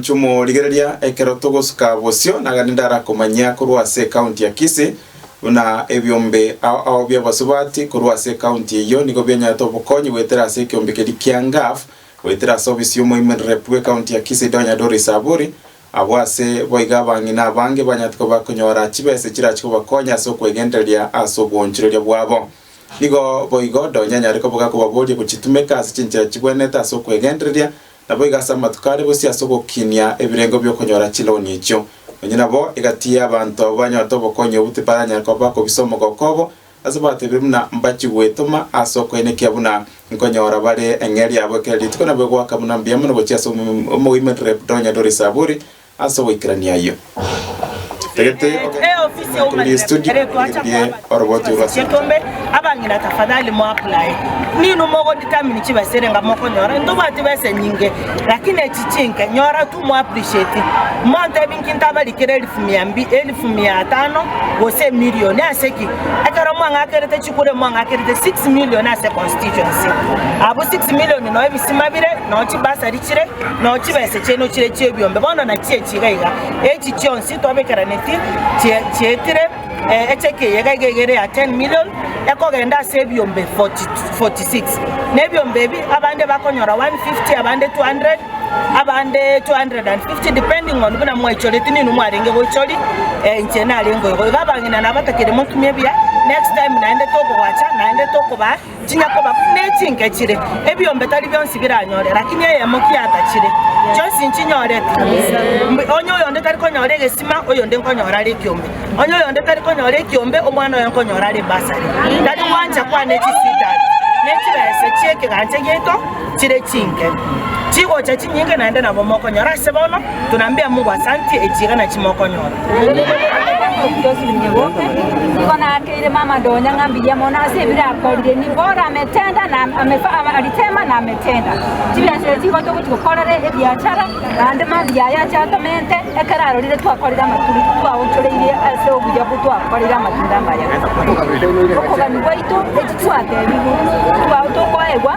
Chimorigereria ekero togosuka bosio nagende ndarakomanyia korwa ase ecounty ya Kisii, buna ebiombe ao ao bi'abasubati korwa ase ecounty eyio nigo bianyarete obokonyi goetera ase ekiombe keria kia Ngaf goetera ase obisi y'omoimererep bw'ecounty ya Kisii Donya Doris Aburi. Abwo ase boigo abang'ina abange banyarete koba konyora chibesa echirachie kobakonya ase okwegendereria ase obwoonchoreria bwabo. Nigo boigo Donya anyare koboga kobaboria gochitumeka ase chinchera chibwenete ase okwegendereria, Naboigo ase amatuko aria bosio ase ogokinia ebirengo bi'okonyora chiloan echio, nonya nabo egati y'abanto abwo banyorete obokonyi obwo tibaranyare koba bakobisa omogoko obo, ase batebire buna mbachie gwetoma ase okoenekia buna nkonyora bare eng'eria yabo ekero rituko nabo egoaka buna mbuya mono gochia ase omoimerere Donya Doris Aburi, Ase ogoikerania ayio, totagete ogenda korwa rie studio oirwe rie oroboti orwo ase ense. Nao chibesa chiaino nchire chi'ebiombe bono nachi echi iga iga, echi chionsi twabekeranetie chi- chietire eh, echeki eyega iga iga ere ya 10 million, ekogenda ase ebiombe 40 46. Na ebiombe ebi abande bakonyora 150, abande 200, abande 250 depending on buna mwaichoreti ninwe mwarenge goichori, eh, inche narenge oyogo. Iga abang'ina nabatakire motumie buya, next time naende tokobwacha, naende tokobaa. Chinya koba ne chinke chire, ebiombe tari bionsi biranyore, lakini eyemo kiatachire, chionsi nchinyorete. Mbu onye oyonde tari konyora egesima, oyonde nkonyora are ekiombe, onye oyonde tari konyora ekiombe, omwana oye nkonyora are ebasari. Tari gwancha kwane chisitani, ne chibese chi'ekegancha giaito. chire chinke chigocha chinyinge naende nabo mokonyora ase bono, tunaambia Mungu asanti echiegena chimokonyorwa.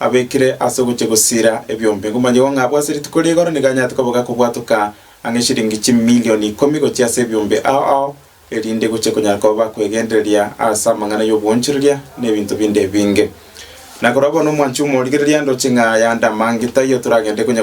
Abekire ase ogochia gosiira ebiombe. Ngomanyegwa ng'a bw'ase rituko rigoro nigo anyarete koba gakobwatoka ang'e eshilingi chimilion ikomi gochia ase ebiombe ao ao, erinde gochie konyara koba bakwegendereria ase amang'ana y'obwoonchoreria na ebinto binde ebinge. Na korwa bono, omwancha omorigereria, ndoche ng'a yande amange taiyo toragende konya